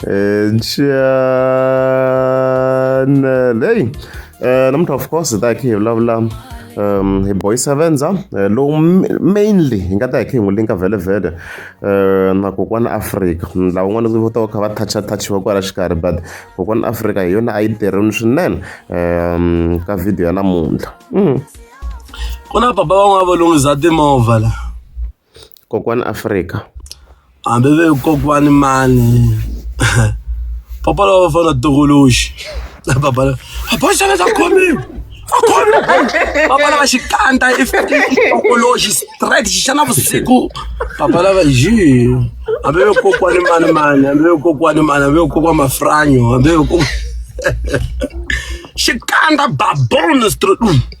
Eh, channel hey eh, namuntlha of course hi ta khe hi vulavula um hi boy sevenza eh, lowu mainly hi nga ta hi khe hi n'wi linka vhelevhele um na kokwana afrika lava n'wana vo ta va kha va toucha touchiwa kwala xikarhi but kokwana afrika hi yona a yi tirhini swinene um ka video ya namuntlha mm. ku na papa van'wana va lunghisa timovha la kokwani Afrika. Hambi va ri kokwani mani papa lava va fana tumbuluxi na papa lava papa xana xa khomiwa a khomiwa papa lava xikandza i tumbuluxi straight xi xa navusiku papa lava ji hambi va kokwani mani mani hambi va kokwani mani hambi va kokwana mafranyo hambi va kokwana xikandza baboni straight.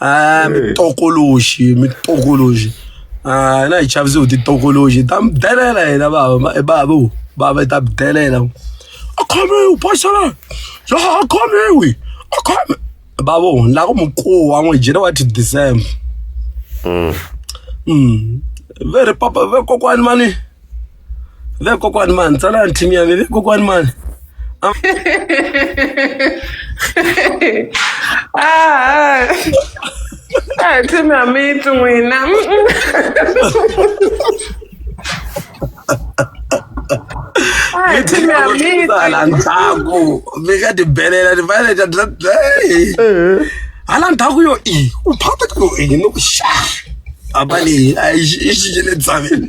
Ah, mitokoloxi mitokoloxi Ah, na hi chavisiwe hi titokoloxi ta mi delela hina bava e bava u bava ta mi delela a khomiwi pasala ya a khomiwi a khomi bava u la ku mukuwa n'wi jele wa ti december Mm. ve ri papa ve kokwani mani ve kokwani mani tsalani team ya mi ve kokwani mani Ah, ah, tell me I'm eating when I'm. Ah, tell me I'm eating. tsala ndzhaku mi nga ti belela ni fanele ta dla hala ndzhaku yo i u phata ka yo i no xa a va leyi a yi xi- yi xixile tsaveni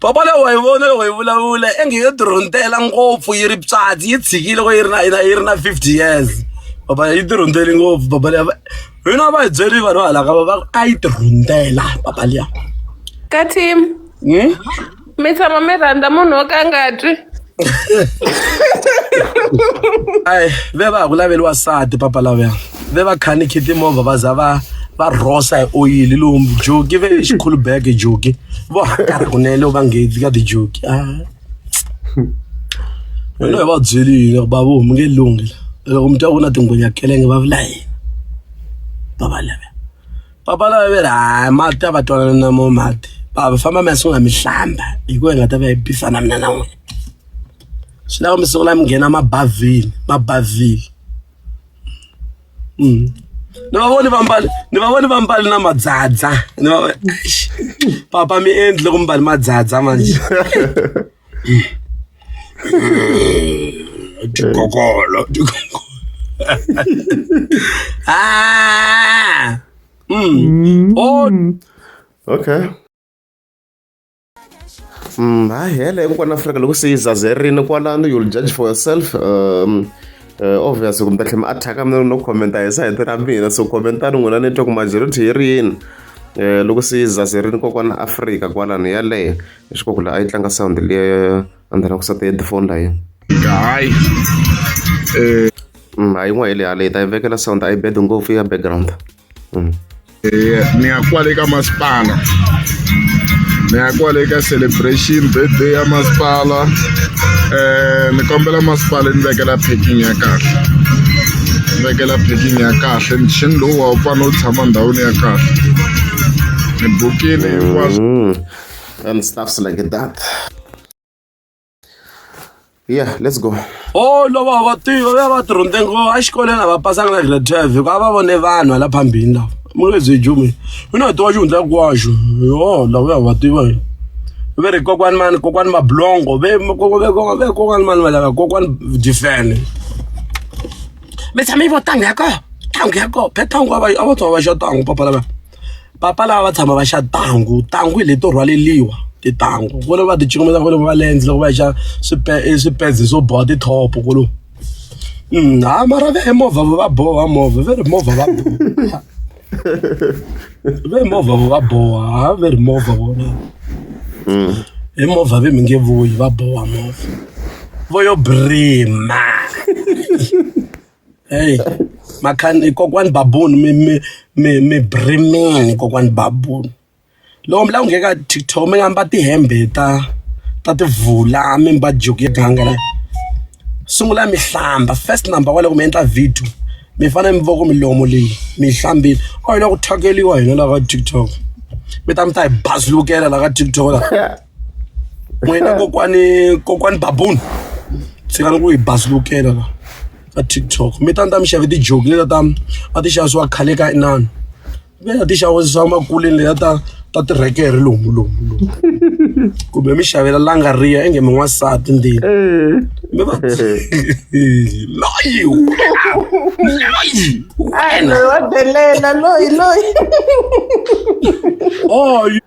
Papa leyi wa yi vona loko yi vulavula enge yo dirhuntela ngopfu yi ri pswatsi yi tshikile loko yi ri na yi na yi ri na fifty years papa yi dirhunteli ngopfu papa leyi va hina va hi byeli vanhu va halaka va va a yi dirhuntela papa liya ka team Hmm? mi tshama mi rhandza munhu wo ka a nga twi ai ve va ha ku laveli wasati papa lavela ve va khanikhi timovha va za va va rhosa hi oyili lomu joki ve xikhulu bag joki vo hakara kunene va nghezi ka tijoki a wena hi va byeli yini bavo mi nge lunghi loko mi twa ku na tingwenya kelenge va vula yini papa lavela papa lava ve ri hayi mati a va twanana na mo mati papa famba mi ya sungula mi hlamba hi ku hi nga ta va yi bisa na mina na n'wina swi lava mi sungula mi nghena mabavhini mabavhini mm. ni va voni va mbali ni va voni va mbali na madzadza ni va papa mi endli loko mi mbali madzadza manje Tikokolo tikokolo. ah! Mm. Oh. Okay. Mm, hayi hele hinkwana afrika loko se yi zazerini kwalano you'll judge for yourself um, Eh, obvious ku mi ta tlhela mi attack-a mi no comment hi sayiti ra mina so commentani n'wina ni twa ku majority yi ri yini um loko se yi zazerini kokwana afrika kwalano yaleyo leswaku laha a yi tlanga sound liya a ni ta lava ku sata headphone la yena hayi um hayi n'wa hi le hale hi ta yi vekela sound a yi bed ngopfu ya background um ni ya kwale ka masipala ni ya kwale ka celebration birthday ya masipala um ni kombela masipala ni vekela packing ya kahle ni vekela packing ya kahle mixini lowu wa u fanele u tshama ndhawini ya kahle ni bukile hinkwaswo and stuffs like that yeah let's go o loko va tiva va va tirhunde ngo exikolweni a va pasanga na grade twelve hikuva a va vone vanhu ala phambini lawa mulezi jumi mina wa tiwa xihundla kwaxo yo lava ya va tiva hi ve ri kokwani mani kokwani mablongo ve ve kokwani mani va lava kokwani difene mi tshame yi vo tangu ya ko tangu ya ko phe tangu a va a va twa va xa tangu papa lava papa lava va tshama va xa thangu thangu hi leto rhwaleliwa tithangu kwale va ti cingameta kwale va lens loko va xa swipedzi swo boha tithopo kwalo mm, ha mara ve movha va boha movha ve ri movha va boha ve movha va boha ha ve ri movha vona mm. hi movha ve mi nge vuyi va boha movha vo yo brima Hey, makhani kokwani babuni mi mi mi mi brimini kokwani babuni loko mi lava ku nghena ka TikTok mi nga mba tihembe ta ta tivula mi mba juku ya ganga la sungula mi hlamba first number wa loko mi endla video mi fanele mi voko milomo leyi mi yi hlambile or yi lava ku thyakeriwa hina laha ka TikTok mi ta mi ta hi bazulukela laha ka TikTok la. n'wina kokwani kokwani baboon ndzi nga ni ku hi bazukela la ka tiktok mi ta ni ta mi xave tijoki leta ta a ti xavisiwa khale ka inani mi ta ti xavisiwa makuleni leta ta ta tirekere lomu lomu lomu kumbe mi xavela langa riya enge mi n'wansati ndini mi va loyi loyi wena wa delela loyi loyi oh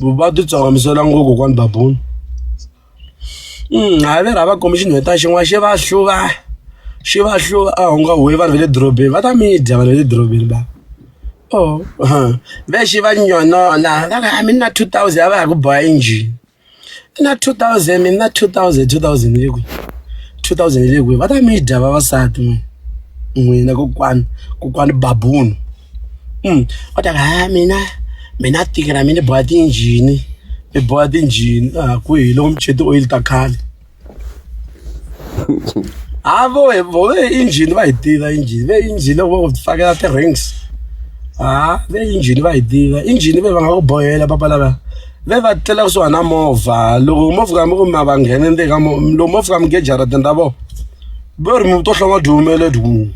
vuvabyi bya hlamusela ngopfu kokwani babuni mm, hayi veri a va komi xinhweta xin'wana xi va hluva xi va hluva a hunga huwe vanhu va le dorobeni va ta midya vanhu va le dorobeni ba o oh, ve xi va nyonona va ka a mi na two thousand a va ha ku boha injini na two thousand mi na two thousand two thousand yi le kwihi two thousand yi le kwihi va ta midya vavasati n'wina kokwani kokwani babuni um va ta ha mina mina tiki ra mina ni boha tinjhini ni boha tinjhini a ah, kwihi loko mi chete oyili ta khale ha ah, voe voe injhini va yi tiva injhini ve injhini loko va ku fakela ti-rings ha ah, ve injhini va yi tiva injhini ve va nga ku bohela papa lava ve va tlela kusuhana na movha loko movha kambe kumbe va nghene ndzeni ka loko movha kambe gejaratini ra vona ve ri mi to hlonga dyumeleti ku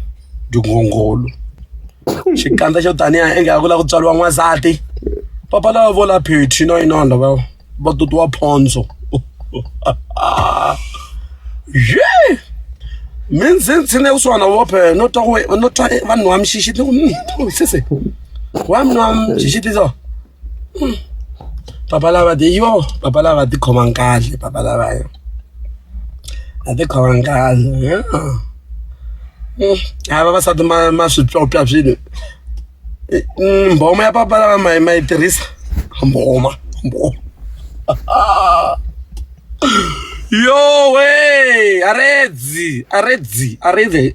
tinghongholo xikandza xo taniya ingaku ku lava ku tswariwa n'wansati papa lava vo la phethri na yina vanhu lava va tutiwa phondzo ye mi ndzi ndzi ne kusuhana na vophe no twa no twa vanhu wa mixixi ni ku hmm, sese wa mina wa mixixi so papa lava de yo papa lava ti khomanga kahle papa lava yo a ti khomanga kahle a vavasati ma ma swi pyopya swilo mbhoma ya papa lava ma ma yi tirhisa mbhoma mbhoma yo we aredzi aredzi aredzi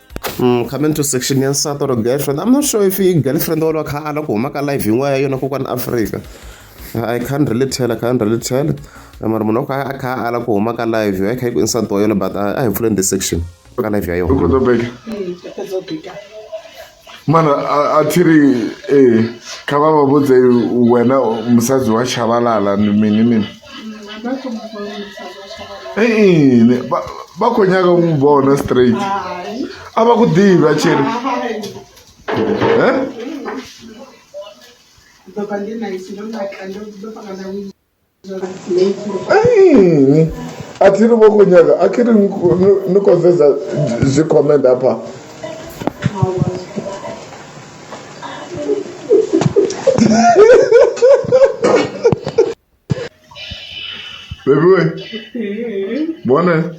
Mm, comment to section ya nsati or girlfriend i'm not sure if i girlfriend or kha ala ku huma ka live yin'wana ya yona kokwani africa i can't really tell i can't really tell mara munhu kha a kha ala ku huma ka live ya kha yi ku nsati wa yona but a hi pfuleni the section ka live ya yona mana a thi ri ee kha va va vhudze wena musadzi wa chavalala ni mini mini i yini va va khonyaka ku n'wi vona straight a va ku divi a cheri yini a thi ri vokonyaka a khe ri ni konzeza byi comment apha Baby we. Bwana.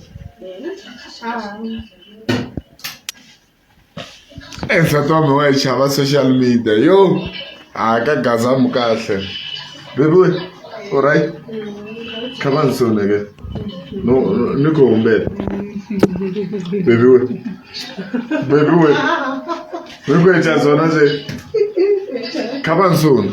Eh, nsati wa mi wa yi chava social media yo a ka gazamu kahle baby we all right kha va ni soneke no no- ni ku humbela baby we baby we mi ku echa zona se kha va ni sona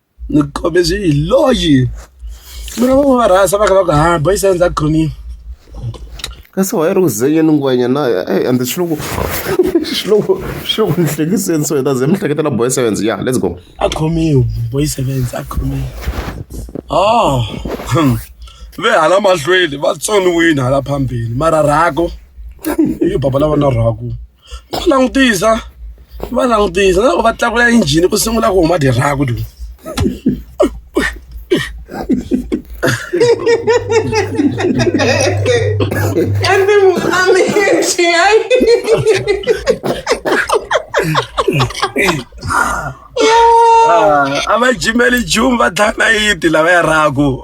Ni khome swi hi loyi mi ri va rhasa va kha va ku ha boys hands up khomile kasi why ri ku zenyeni ngwenya na ey and swi loko swi loko swi loko ni hlekiseni so hi ta ze mi hleketela boy sevens ya let's go a khomiwe boy sevens a khomiwe oh ve hala mahlweni va tsoniwini hala phambili mara rhako i baba lava na rhako va langutisa va langutisa na loko va tlakula injhini ku sungula ku huma dirhaku du Kambe mukami yethu hayi. a va jimeli jumi va dlaya nayiti lava ya rhaku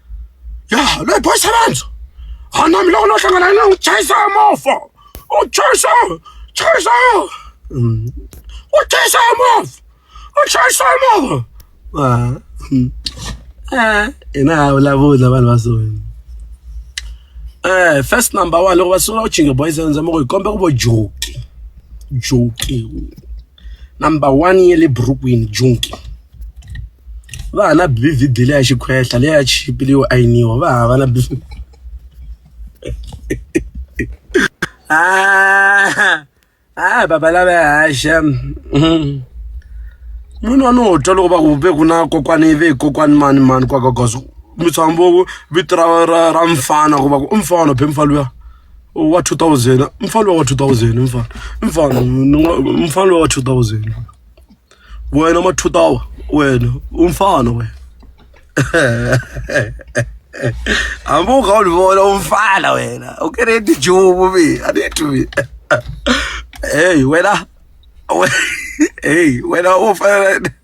ya loyi boy sebenza a na mi loko no hlangana yena n'wi chayisa movha u chayisa chayisa u chayisa movha u chayisa movha hina ha vulavula vanhu va so um first number one loko va sungula ku chinga boy sebenza mo ku hi kombe ku vo joki joki number one ya le burukwini junki va ha na bvd leya xikhwehla leya chipi leyo ayiniwa va hava na bvd ah, ah baba lava haxa mm-hmm. munhu wa no twa loko va ku ve ku na kokwani ve kokwani mani mani kwakagozo mitswambovo vito ra ra ra mfana ku va ku i mfana phe mfa luya wa 2000 mfana wa 2000 mfana mfana mfana wa 2000 wena ma 2000 wena umfana wena hambi u kha u ni vona u mfana wena u kereti jumu mi a ni twi mi heyi wena we- heyi wena u fanele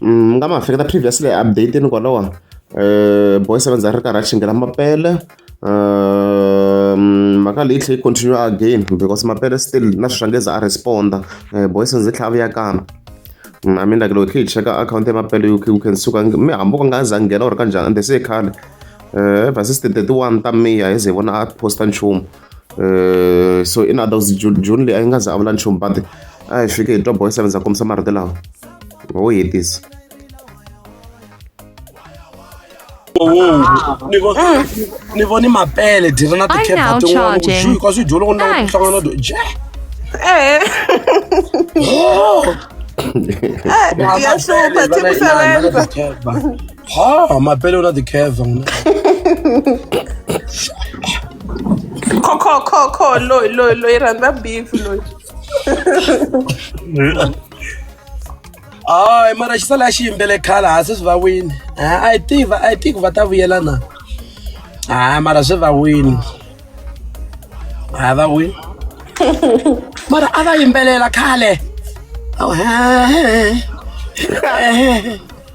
mi nga ma hleketa previously update ni kwalawa um boy seven za ri karhi a chingela mapele um mhaka leyi tlhe yi continue again because mapele still na swi swangeza a responda um boy seven zi tlhava ya kambe i mean like loko hi cheka akhawunti ya mapele you can, you can suka mi hambi u nga za nghena or kanjhani and se khale um ever since ti-thirty one ta miya hi ze hi vona a posta nchumu um so in adults june june leyi a yi nga za a vula nchumu but a hi fike hi twa boy seven za kombisa marito lawa wo hetisa ni voni mapele dira na tikhepa tin'wana ku juu ka swi dyolo ku na ku hlangana do je ha mapele una the curve ngina kho kho kho kho loyi loyi loyi rhandza beef loyi hayi mara xi sala xi yimbele khale ha se swi va wini i think i think va ta vuyela na hayi mara swi va wini hayi va wini mara a va yimbelela khale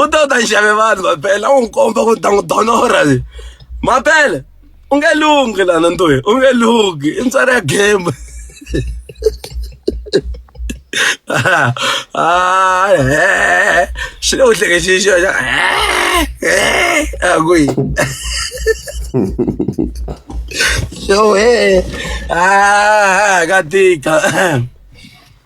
u ta u ta xave vanhu maphela u n'wi komba ku ta n'wi donora le maphela u nge lunghi lana ntoyi u nge lunghi i ntswari ya game swi le ku hlekexini xo xa a ku yi yo he ka tika